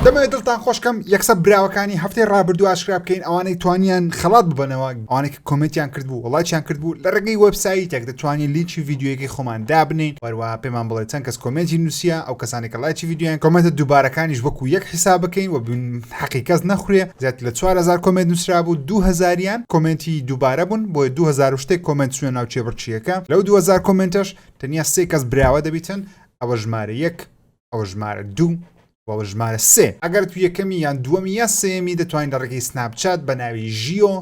دەمەوێت دڵتان خۆشکەم یەکسە براوەکانی هەفتەی ڕابردوو ئاشکرا بکەین ئەوانەی توانیان خەڵات ببنەوە ئەوانێک کۆمنتیان کردبوو وڵاتیان کردبوو لە ڕێگەی وەبسایتێک دەتوانین لینکی ویددیوەکەی خۆمان دابنین وەروە پێمان بڵێ چەند کەس کۆمنتی نووسە ئەو کەسانێکە لایکی ویددیویان کۆمنتە دووبارەکانیش وەکو یەک حیسا بکەین و بن حەقی کەس نەخورێ زیات لە 4000 کۆمنت نووسرا بوو 2000یان کۆمنتی دووبارە بوون بۆ 2000 شتێک کۆمنت سوێن ناو چێبڕچیەکە لەو 2000 کۆمنتەش تەنیا سێ کەس براوە دەبیتن ئەوە ژمارە یەک ئەوە ژمارە دوو وەوە ژمارە سێ ئەگەر تو یەکەمی یان دووەمی یا سێمی دەتوانین لە ڕێگەی سناپچات بە ناوی ژیۆ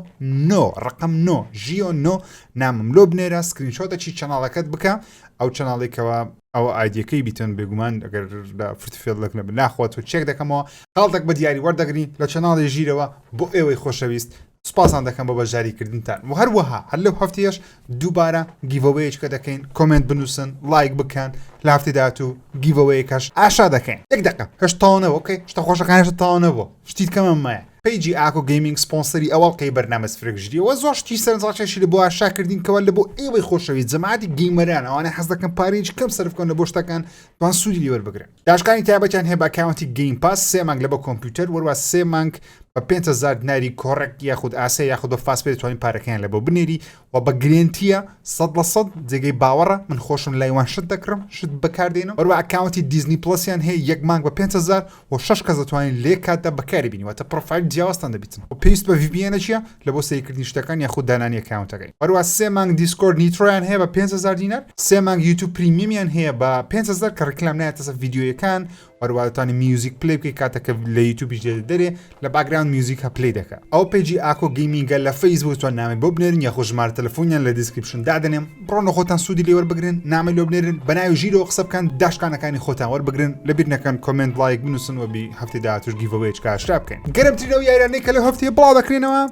نۆ ڕقم نۆ ژیۆ نۆ نامم لۆ بنێرە سکرینشۆتەچی چەناڵەکەت بکە ئەو چەناڵێکەوە ئەوە ئایدیەکەی بیتن بێگومان ئەگەر لە فرتفێڵک نە بناخوات و چێک دەکەمەوە خاڵتەک بە دیاری وەردەگرین لە چەناڵی ژیرەوە بۆ ئێوەی خۆشەویست سوپاستان دەکەم بۆ بەشداریکردنتان و هەروەها هەر لەو هەفتەیەش دووبارە گیڤەوەیەکە دەکەین کۆمێنت بنووسن لایک بکەن لە هەفتەی داهاتوو گیڤەوەیەکەش ئاشا دەکەین یەک دەقە هەشت تاوە نەبوو ئۆکەی شتە خۆشەکان هەشت تاوە نەبوو شتی کەمە مایە پەیجی ئاکۆ گەیمینگ سپۆنسەری ئەو ئەڵقەی بەرنامە سفرێک ژیریەوە زۆر شتی سەرنجڕاکێشی لە بۆ ئاشا کردین کەوا لە بۆ ئێوەی خۆشەویست جەماعەتی گەیمەران ئەوانەی حەز دەکەن پارەیەکی کەم سەرف بکەن لە بۆ شتەکان توان سوودی لێ وەربگرن داشکانی تایبەتیان هەیە بە ئەکاونتی گەیم پاس سێ مانگ لە بە کۆمپیوتەر وەروە سێ مانگ بە 500 دیناری کۆڕێک یاخود ئاسیا یاخود بە فاس پێ توانین پارەکەیان لە بۆ بنێری و بە گرێنتیە سە لە سە جێگەی باوەڕە من خۆشم لایوان شت دەکڕم شت بەکاردێنم وەروە ئەکاونتی دیزنی پلسیان هەیە یەک مانگ بە 500 و شش کەس دەتوانین لێ کاتدا بەکاری بینیوەتە پرۆفایل جیاوازتان دەبیتن و پێویست بە VPN چیە لە بۆ سەیرکردنی شتەکان یاخود دانانی ئەکاونتەکەی هەروە سێ مانگ دیسکۆرد نیترۆیان هەیە بە 500 دینار سێ مانگ یوتوب پریمیەمیان هەیە بە 500 کە ڕیکلام نایەتەسە ڤیددیویەکان وەروادتانی میوزیک پلی بکەی کاتەکە لە یوتوبیش دێ دەرێ لە باگراند میوزیک هە پلی دەکە ئەو پێجی ئاکۆ گەیمینگە لە فەیسبوو تۆ ناوێ بۆ بنێرین یاخۆ ژمارە تەلەفۆنیان لە دیسکریپشن دادنێم بڕۆن لە خۆتان سوودی لێ وەربگرن نامەی لۆ بنێرن بە ناوی ژیرەوە قسە بکەن داشکانەکانی خۆتان وەربگرن لە بیر نەکەن کۆمنت لایک بنووسن وەبی هەفتی داهاتوش گیڤەوەیەک کاشرا بکەین گەرمترین ئەو یارانەی کە لە هەفتەیە بڵاو دەکرێنەوە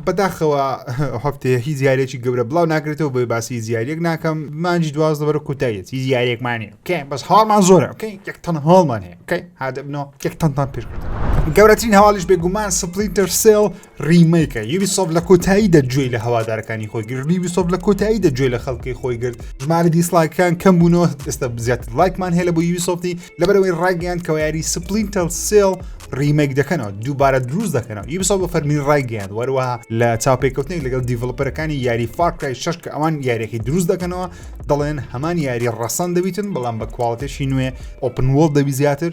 بەداخەوە هەفتەیە هیچ یاریێکی گەورە بڵاو ناکرێتەوە بۆی باسی زیارێک ناکەم مانجی دواز دەبەر کوتایەت هیچ یاریێکمانە کە بەس هاڵمان زۆرە کەی یەک تەن هاڵمان هەیە کەی هادەبنەوە یەک تەنتان پێشکردن گەورەترین هەواڵیش بێگومان سپلیتەر سێڵ ڕیمەیکە یوبیسۆفت لە کۆتاییدا گوێی لە هەوادارەکانی خۆی گرت یوبیسۆفت لە کۆتاییدا گوێ لە خەڵکی خۆی گرت ژمارە دیسڵایکەکان کەم بوونەوە ئێستا زیاتر لایکمان هەیە لە بۆ یوبیسۆفتی لەبەرەوەی ڕایگەیان کەەوە یاری سپلینتەل سێڵ ڕیمەیک دەکەنەوە دووبارە دروست دەکەنەوە یوبیسۆف بە فەرمی ڕایگەیان وەروەها لە چاپێکوتنێک لەگەڵ دیڤڵپەرەکانی یاری فارکرای شش کە ئەوان یاریەکەی دروست دەکەنەوە دەڵێن هەمان یاری ڕەسەن دەبیتن بەڵام بە کوواڵەتێکی نوێ ئۆپن وڵ دەبی زیاتر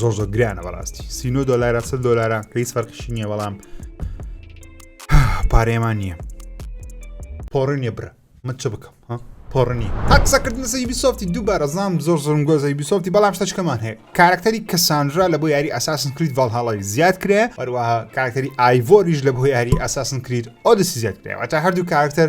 زۆر زۆر گرانە بەڕاستی سینۆ دۆلارە سە دۆلارە هیچ فەرقشی نییە بەڵام پارێمان نییە پۆڕ نیە برا من چ بکەم ها پۆڕنی هەقسەکردن سەی بیسۆفتی دووبارە زام زۆر زۆرم گۆزەی بیسۆفتی بەڵام شتەشکەمان هەیە کارکتەری کەسانرا لە بۆ یاری ئەساسن کریت ڤالهاڵی زیاد کرێ هەروەها کارکتەری ئایڤۆریش لە بۆ یاری ئەساسن کریت ئۆدسی زیاد کرێەوە تا هەردوو کارکتەر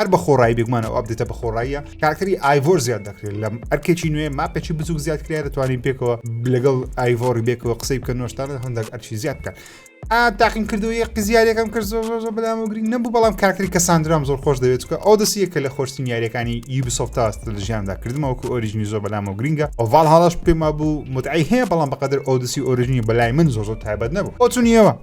هەر بە خۆڕایی بێگومان ئەو ئەپدێتە بە خۆڕاییە کارکتەری ئایڤۆر زیاد دەکرێت لەم ئەرکێکی نوێ ماپێکی بچوک زیاد کرێ دەتوانین پێکەوە لەگەڵ ئایڤۆری بێکەوە قسەی بکە نۆشتانە هەندێک ئەرچی زیاد بکە تاقیم کردو یە قزیارەکەم کرد زۆر زۆر زۆر بەلام گرنگ نەبوو بەڵام کاکتری کە ساندرام زۆر خۆش دەوێت کە ئەو دەسیە کە لە خۆشتین یاریەکانی یوبیسۆفت تاست لە ژیاندا کردمەوەکو ئۆریژنی زۆر بەلامەوە گرنگە ئۆڤال هاڵش پێما بوو متعی هەیە بەڵام بەقدر ئەو دەسی ئۆریژنی بەلای من زۆر زۆر تایبەت نەبوو ئۆتونیەوە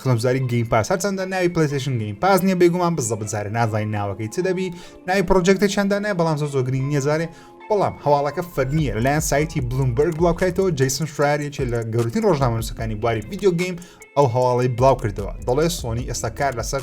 خزمزاری گەیم پاس هەرچەندە ناوی پلیسشن گەیم پاس نیە بێگومان بزە بزارە نازای ناوەکەی چ دەبی ناوی پرۆژێکتە چەندە نای بەڵام زۆ زۆگرین نیەزارێ بەڵام هەواڵەکە فەرمیە لەلایەن سایتی بلومبرگ بڵاوکرێتەوە جیسن شراریەکێ لە گەورتین ڕۆژنامەنووسەکانی بواری ویددیو گەیم ئەو هەواڵی بڵاو کردەوە دەڵێ سۆنی ئێستا کار لەسەر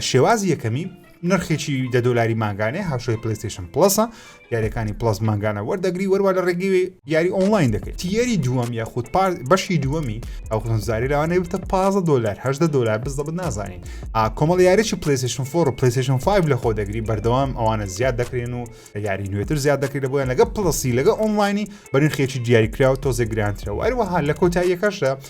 شێوازی یەکەمی، نرخێکی دە دۆلاری مانگانەیە، هاوشێوەی پلەیستەیشن پڵەسە، یاریەکانی پڵەس مانگانە وەردەگری وەروە لە ڕێگەی یاری ئۆنلاین دەکەیت. تیەری دووەم یاخود بەشی دووەمی ئەو خزمزاری لەوانەیە بتە 15 دۆلار هەدە دۆلار بزدەبت نازانین. کۆمەڵ یاریی پلەیستەیشن فۆر و پلەیستەیشن 5 لە خۆ دەگری بەردەوام ئەوانە زیاد دەکرێن و یاری نوێتر زیاد دەکرێت بۆیان لەگە پڵەسی لەگە ئۆنلاینی بە نرخێکی دیاریکراوە تۆزێک گرانترەوە هەروەها لە کۆتاییەکەشدا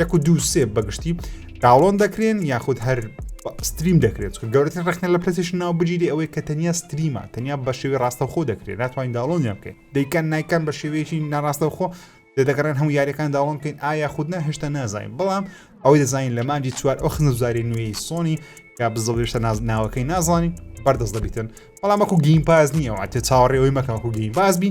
یەک و دوو سێ بەگشتی داڵۆن دەکرێن یاخود هەر ستریم دەکرێت کە گەورەتر ڕخنە لە پرسیش ناو بگیری ئەوەی کە تەنیا ستریمە تەنیا بە شێوی ڕاستەخۆ دەکرێت ناتوانین داڵۆنیان بکەین دەیکەن نایکەن بە شێوەیەکی ناڕاستەخۆ دەگەڕێن هەموو یاریەکان داڵۆن بکەین ئایا خودنا هێشتا نازانین بەڵام ئەوەی دەزانین لە مانجی چوار ئەو خنزاری نوێی سۆنی یا بزڵێشتە ناز ناوەکەی نازانین بەردەست دەبیتن بەڵام وەکو گیم پاز نییە واتێ چاوەڕێەوەی مەکەکو گیم بازبی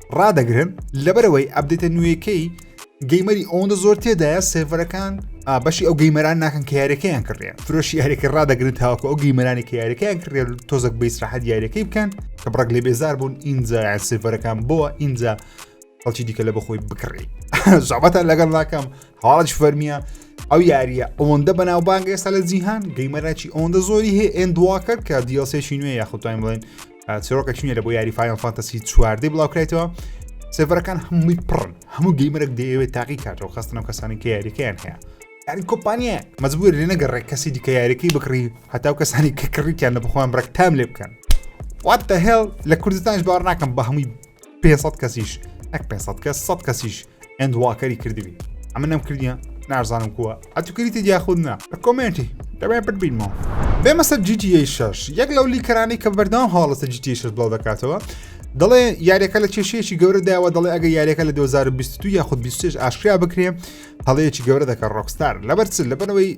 ڕدەگرن لەبەرەوەی ئەبدێتە نوێیەکەی گەیمەری ئەوەندە زۆر تێدایە سێڤەرەکان بەشی ئەو گەیمەران ناکەن کە یاریەکەیان کڕێن فرۆشی یاریەکە ڕدەگرن تاوەکە ئەو گەیمەرانی کە یاریەکەیان کڕێن تۆزەک بەیسراحەت یاریەکەی بکەن کە بڕک لێ بێزار بوون ئینجا یان سێڤەرەکان بووە ئینجا خەڵکی دیکە لە بەخۆی بکڕی زابەتە لەگەڵ ناکەم هەواڵش فەرمیە ئەو یاریە ئەوەندە بەناوبانگ ئێستا لە جیهان گەیمەراکی ئەوەندە زۆری هەیە ئەندواکە کە دیڵسێکی نوێ یاخوتوان بڵێن چرۆکە چینە لە بۆ یاری فایان فانتەسی چواردەی بڵاوکرێتەوە سێڤەرەکان هەمووی پڕن هەموو گەیمەرەك دەیەوێت تاقی کاتەوە خستنەوە کەسانی کە یاریەکەیان هەیە یاری کۆمپانیە مەزبوور لێ نەگەڕێک کەسی دیکە یاریەکەی بکڕی هەتاو کەسانی کە کڕیکیان لە بخوام ڕێک تام لێ بکەن وات دە هێڵ لە کوردستانش باوەڕ ناکەم بە هەمووی 500 کەسیش نەک 500 کەس 100 کەسیش ئەند واکەری کردبی ئەمە نەم کردە نارزانم کووە ئەتو کریتی دیاخود نا لە کۆمێنتی دەبێ پرد بینمەوە بێمە سەر GTA 6 یەک لەو لیکەرانی کە بەردەوام هاڵەتە GTA 6 بڵاو دەکاتەوە دەڵێ یاریەکە لە کێشەیەکی گەورە داوە دەڵێ ئەگە یاریەکە لە 2022 یاخود 26 ئاشکرا بکرێ هەڵەیەکی گەورە دەکە ڕۆکستار لەبەر چ لەبەرەوەی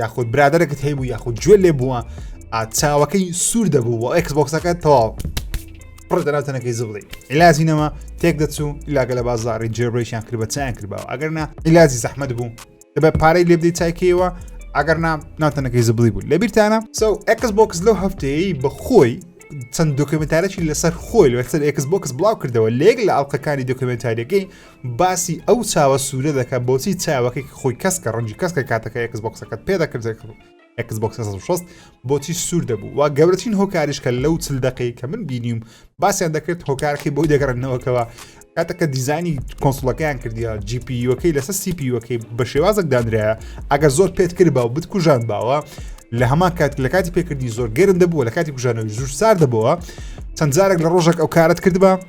یاخود برادەرەکەت هەیبوو یاخود گوێ لێ بووە چاوەکەی سوور دەبوو و ئەکس بۆکسەکە تەواو پڕ دەناوتەنەکەی زبڵی عیلازینەوە تێک دەچوو لاگە لە بازاری جێبرێکیان کرد بە چیان کردباوە ئەگەر نا عیلازی زەحمت بوو دەبە پارەی لێ بدەی چایکەیەوە ئەگەر نا ناوتەنەکەی زبڵی بوو لە بیرتانە سو ئەکس بۆکس لەو هەفتەیە بە خۆی چەند دۆکمنتارێکی لەسەر خۆی لەسەر ئەکس بۆکس بڵاو کردەوە لێک لە ئەڵلقەکانی دۆکمنتاریەکەی باسی ئەو چاوە سوورە دەکە بۆچی چاوەکەی خۆی کەسکە ڕەنجی کەسکە کاتەکە ئەکس بۆکسەکەت پێ دەکرد ئەکس بۆکس 16 بۆچی سوور دەبوو وا گەورەترین هۆکاریش کە لەو چل دقی کە من بینیم باسیان دەکرێت هۆکارەکەی بۆی دەگەڕنەوەکەوە کاتەکە دیزانی کۆنسڵەکەیان کردیا جیپیەکەی لەسەر سیپیەکەی بە شێوازێک دانرایە ئەگەر زۆر پێت کرد باو بتکوژان باوە لە هەمان کات لە کاتی پێکردنی زۆر گەرم دەبووە لە کاتی کوژانەوەی زور سار دەبەوە چەند جارێک لە ڕۆژێک ئەو کارت کردبا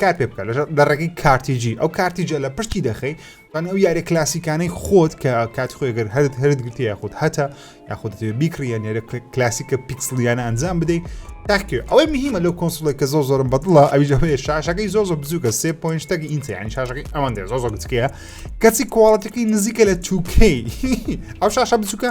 کار پێ بکە لەژەر لە ڕێگەی کارتیجی ئەو کارتیجە لە پشتی دەخەی بەن ئەو یارە کلاسیکانەی خۆت کە کات خۆێگەر هەرت هەرت گرتی یاخود هەتا یاخود بیکریە نێرە کلاسیکە پیکسلیانە ئەنجام بدەیت تاکێ ئەوەی مهمە لەو کۆنسڵێک کە زۆر زۆرم بەدڵە ئەویژەوەی شاشەکەی زۆر زۆر بزووکە سێ پوینشتەکە ئینتیانی شاشەکەی ئەوان دێ زۆر زۆر گچکەیە کەچی کوواڵەتەکەی نزیکە لە توکەی ئەو شاشە بچووکە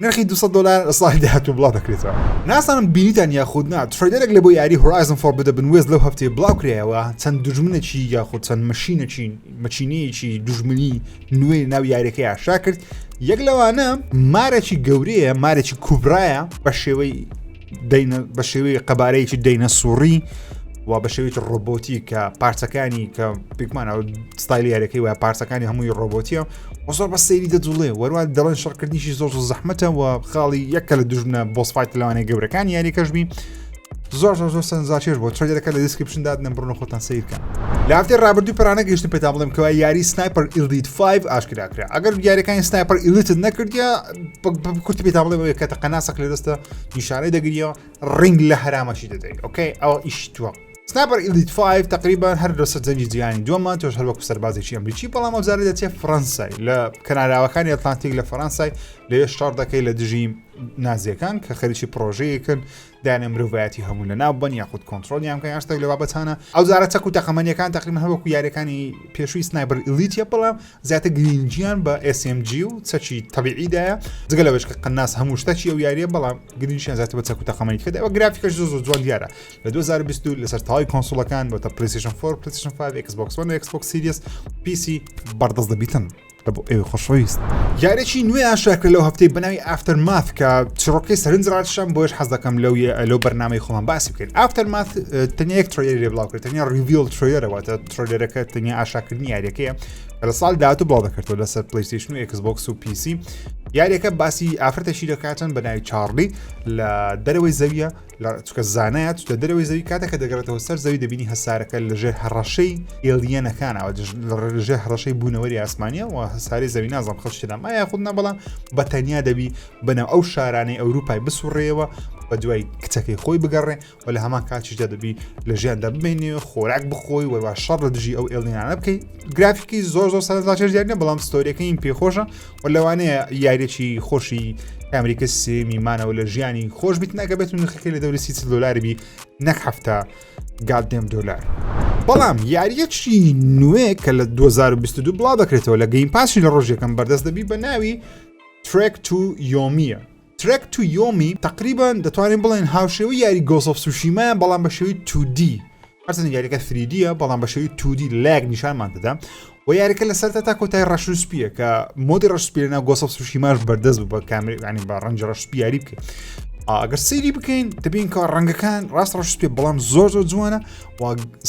نرخی 200 دلار ساڵی داهاتوو بڵاو دەکرێتەوە ناسانم بینیتان یاخود نا تریدەرێک لە بۆ یاری هۆرایزم فۆر بدە بنوێز لەو هەفتەیە بڵاو کرایەوە چەند دژمنەکی یاخود چەند مەشینەکی مەچینەیەکی دژمنی نوێ ناو یاریەکە یاشا کرد یەک لەوانە مارەکی گەورەیە مارەکی کوبرایە بە شێوەی بە شێوەی قەبارەیەکی دەینە سوڕی و بە شێوەیەکی ڕۆبۆتی کە پارچەکانی کە پێکمانەوە ستایلی یارەکەی و پارچەکانی هەمووی ڕۆبۆتیە و زۆر بە سەیری دەجوڵێ وەروان دەڵێن شەڕکردنیشی زۆر زۆر زەحمەتە و خاڵی یەکە لە دژمنە بۆسفایت لەوانەیە گەورەکان یاریەکەش بین زۆر زۆر زۆر سەنجاشێش بۆ ترێدەکە لە دیسکرپشن دادنە بڕنە خۆتان سیرکە لافتێ ڕابردوو پرانە گەشتن پێتا بڵێم کەوا یاری سنایپەر ئیلیت 5 ئاشکراکرا ئەگەر یاریەکانی سنایپەر ئیلیتت نەکردە کورتی پێتا بڵێ کە تەقەناسەق لە دەستە نیشانەی دەگریەوە ڕنگ لە هەرامەشی دەدەی ئۆکەی ئەوە ئیش توە سناپەر ئیلیت 5 تقریبان هەر لە سەرجەنگی جیهانی دووەمان تۆش هەر وەکو سەربازێکی ئەمریکی بەڵام ئەوزارە دەچێ فڕەنسای لە کەناراوەکانی ئەتلانتیک لە فەرەنسای لەوێ شەڕ دەکەی لە دژی نازیەکان کە خەریکی پرۆژەیەکن دایانە مرۆڤایەتی هەموو لە ناو بن یاخود کۆنتترۆلیان کە یاشتێک لە بابەتانە ئەوزارە چەک و تەقەمەنیەکان تقریبان هەروەکو یاریەکانی پێشووی سنایبەر ئلیتە بەڵام زیاتر گرینگیان بە SMG و چەکی تەبیعی دایە جگە لەوەش کە قەناس هەموو شتەکی ئەو یاریە بەڵام گرنگیان زیاتر بە چەک و تەقەمەنی کە داوە گرافیکەش زۆر زۆر جوان دیارە لە 2020 لەسەر تاوای کۆنسوڵەکان بۆتە پلیسیشن فۆر پلیسیشن 5 Xbox One Xbox Series PC بەردەست دەبیتن لە بۆ ئێوە خۆشەویست یارێکی نوێ ئاشراکرد لەو هەفتەی بەناوی ئافتەر ماف کە چڕۆکەی سەرنج ڕاشم بۆش حەز دەکەم لەو لەو بەرنمەی خۆمان باسی بکەین ئافتەر ماف تەنیا یەک ترۆیری لێ بڵاوکرد تەنیا ریڤیل ترۆیەرەوەتە ترۆلەرەکە تەنیا ئاشاکردنی یاریەکەیە لە ساڵ داات و بڵاو دەکردەوە لەسەر پلیستیشن و ئەکسبکس و پیسی یاریەکە باسی ئافرەتەشی دەکاتن بە ناوی چاڕلی لە دەرەوەی زەویە لە چکە زانایە چکە دەرەوەی زەوی کاتەکە دەگەڕێتەوە سەر زەوی دەبینی هەسارەکە لەژێر هەڕەشەی ئێلیەنەکانەوە لەژێر هەڕەشەی بوونەوەری ئاسمانە و هەساری زەوی نازم خشتدام ئایا خود نەبڵام بە تەنیا دەبی بەناو ئەو شارانەی ئەوروپای بسوڕێەوە بە دوای کچەکەی خۆی بگەڕێ و لە هەمان کاتیشدا دەبی لە ژیاندا بمێنی و خۆراک بخۆی وەروە شەڕ لە دژی ئەو ئێڵینانە بکەیت گرافیکی زۆر زۆر سەرزاچێر دیارنە بەڵام ستۆریەکەین پێخۆشە و لەوانەیە یاریێکی خۆشی ئەمریکا سێمی مانەوە لە ژیانی خۆش بیت ناکە بێت و نرخەکە لە دەوری سی دلاربی نەک هەفتە گادێم دلار. بەڵام یاریەکی نوێ کە لە 2022 بڵا دەکرێتەوە لە گەین پاسی لە ڕۆژێکم بەردەست دەبی بە ناوی ترێک تو یۆمیە ترێک تو یۆمی تەقریبەن دەتوانین بڵێن هاوشێوەی یاری گۆسۆف سوشیمایە بەڵام بە شێوی تودی هەرچەند یاریەکە فریدیە بەڵام بە شێوی تودی لایەک نیشانمان دەدا و یاریەکە لە سەرتا تا کۆتای ڕەش و سپیە کە مۆدی ڕشپێنە گۆسۆف سوشیماش بەردەست بە کامرانی بە ڕەنج ڕەش سپیاری بکەین ئەگەر سەیری بکەین دەبین کە ڕەنگەکان ڕاست ڕەش پێ بەڵام زۆر زۆر جوانە و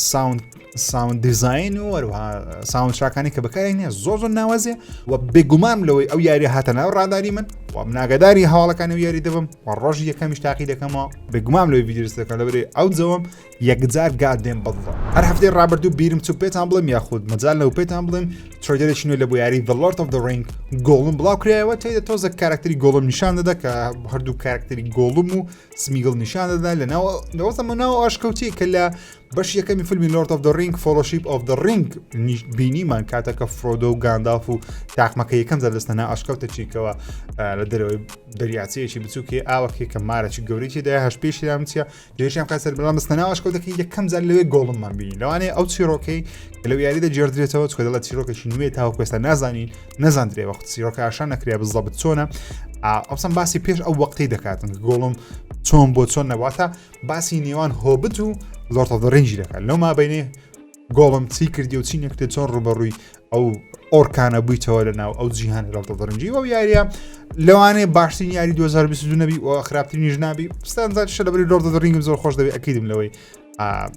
ساوند ساوند دیزین و هەروها ساوندشاکانی کە بەکارێک نیە زۆر زۆر ناوازێ و بێگومام لەوەی ئەو یاری هاتە ناو ڕاداری من و مناگەداری هەواڵەکانی و یاری دەبم و ڕۆژ یەکەمیش تاقی دەکەمەوە بێگومام لەوەی ویدرسەکە لەبرێ ئەو جەوەم یەکجار گادێن بەڵڵە هەر هەفتەی ڕابردوو بیرم چوو پێتان بڵێم یاخود مەجال لەو پێتان بڵێم ترۆدرێکی نوێ لە بۆ یاری دڵۆرت of the ڕنگ گۆڵم بڵاو کرایەوە تێدە تۆزە کارکتری گۆڵم نیشان دەدا کە هەردوو کارکتری گۆڵم و سمیگڵ نیشان دەدا لە ناو لەوەزەمە ناو ئاشکەوتی کە لە بەشی یەکەمی فیلمی لۆرد ئۆف دە ڕینگ فۆلۆشیپ ئۆف دە ڕینگ نیش بینیمان کاتە کە فرۆدۆ و گانداف و تاقمەکە یەکەم جار دەستە نا ئاشکەوتە چیکەوە لە دەرەوەی دەریاچەیەکی بچووکێ ئاوەکێ کە مارەی گەورێکی دا هەش پێشیان چیە لێشیان کا سەر بەڵام مستە ناواشکەوتەکە یەکەم جار لەوێ گۆڵممان بینی لەوانێ ئەو چیرۆکەی لەو یاریدا جێردرێتەوە چکە دەڵە چیرۆکەشی نوێ تاوکوێستا نازانین نەزاندرێ وەخت چیرۆکە ئاشان نەکرێ بزەبت چۆنە ئەوسم باسی پێش ئەو وەقتی دەکاتن گۆڵم چۆن بۆ چۆن نەواتە باسی نێوان هۆبت و لۆرتەدەڕینجی دەکات لەو مابینێ گۆڵم چی کردی و چی نەکرێت چۆن ڕوبەڕووی ئەو ئۆرکانە بوویتەوە لە ناو ئەو جیهانی ڕڵتەدەرنجی و یاریە لەوانەیە باشترین یاری 2022 نەبی و خراپترینیش نابی ستانزار شە لەبری لۆردەدەڕینگم زۆر خۆش دەبێت ئەکیدم لەوەی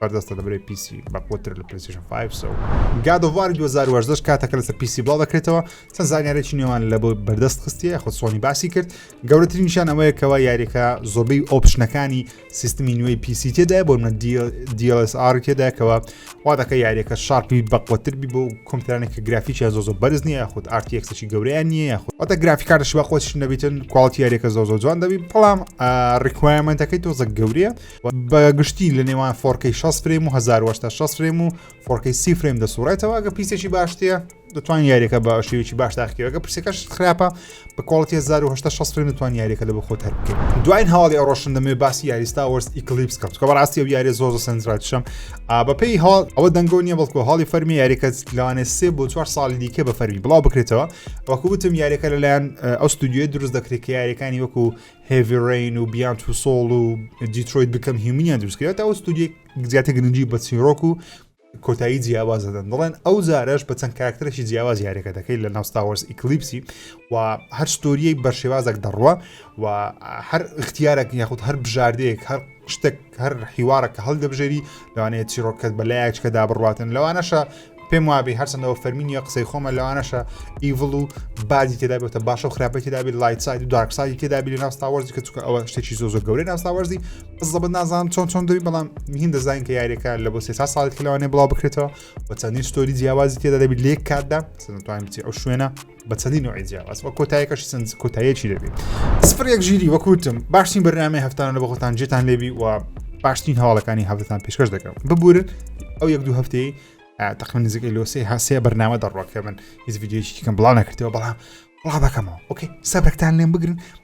بەردەستە دەبرێت پیسی بەقوتر لە پلیسیشن 5 سو گادۆوار 2010 کاتەکە لەسەر پیسی بڵاو دەکرێتەوە چەند زانیارێکی نێوان لە بۆ بەردەست خستیە خۆ سۆنی باسی کرد گەورەترین نیشان ئەوەیە کەەوە یاریەکە زۆبەی ئۆپشنەکانی سیستمی نوێی پیسی تێدا بۆ منە DLSR تێداکەوە وا دەکە یاریەکە شارپی بەقوتر بی بۆ کۆمپیوترانێکە گرافیکیان زۆ زۆ بەرز نیە خود ئارتیەکسێکی گەوریان نیە یاخود ئەتە گرافیکارش بە خۆش نەبیتن کوالتی یاریەکە زۆ زۆ جوان دەبی بەڵام ڕیکوایمنتەکەی تۆزە گەورەیە بە گشتی لە نێوان فۆرکەی 6 فرێم و 1960 فرێم و فۆرکەی سی فرێم دەسوڕێتەوە گە پیسێکی باشتەیە دەتوان یاریەکە بە شێوێکی باش تاقیەوەگە پرسەکەش خراپە بە کۆڵەتی 1960 فرێم دەتوان یاریەکە لە بە خۆت هەر بکەیت دوای هەواڵی ئەوڕۆشن دەمێ باسی یاریستا وەرس ئیکلیپس کەوت کە بەڕاستی و یاری زۆر سنجراتشم بەپی هەواڵ ئەوە دەنگۆ نیە بەڵکو هەڵی فەرمی یاریەکە لەوانێ سێ بۆ چوار ساڵی دیکە بە فەرمی بڵاو بکرێتەوە وەکووتم یاریەکە لەلایەن ئەو ستودیوی دروست دەکرێت کە یاریەکانی وەکو هێڤی ڕێین و بیان تو سۆڵ و دیترۆیت بکەم هیومنیان دروستکرێت ئەو ستودیک زیاتر گرنگی بە چیرۆک و کۆتایی جیاواز دەدەن دەڵێن ئەو زارش بە چەند کاکتەرێکی جیاواز یاریەکە دەکەی لە ناوستاوەرز ئیکلیپسی و هەر ستۆریەک بە شێوازێک دەڕوە و هەر اختیارێک یاخود هەر بژاردەیەک هەر شتێک هەر حیوارە کە هەڵدەبژێری لەوانەیە چیرۆکەت بە لایەکچکە دابڕاتن لەوانەشە پێم وابی هەرچەندەوە فەرمینیە قسەی خۆمە لەوانەشە ئیڤڵ و بادی تێدابێتە باشە و خراپی تێدابێت لایت ساید و دارکسایی تێدابی لە ناستاوەرزی کە چکە ئەوە شتێکی زۆ زۆ گەورەی ناستاوەرزی زەبەت نازان چۆن چۆن دەوی بەڵام مهین دەزانین کە یاریەکە لە بۆ سێ سا ساڵێک لەوانێ بڵاو بکرێتەوە و چەندین ستۆری جیاوازی تێدا دەبیت لێک کاتدا سنتوان بچی ئەو شوێنە بە چەندی نوعی جیاواز وە کۆتایەکەش سنج کۆتایەکی دەبێت سفر یەک ژیری وەکوتم باشترین بەرنامەی هەفتانە لە بەخۆتان جێتان لێبی و باشترین هەواڵەکانی هەفتتان پێشکەش دەکەم ببورن ئەو یەک دوو هەفتەی تەقم نزیکەی لۆسی هەسێ بەرنامە دەڕۆکە من هیچ یددیوەیەکی کەم بڵاو نەکردەوە بەڵام بڵا بەکەمەوە ئۆکەی سەبرەکتان لێم بگرن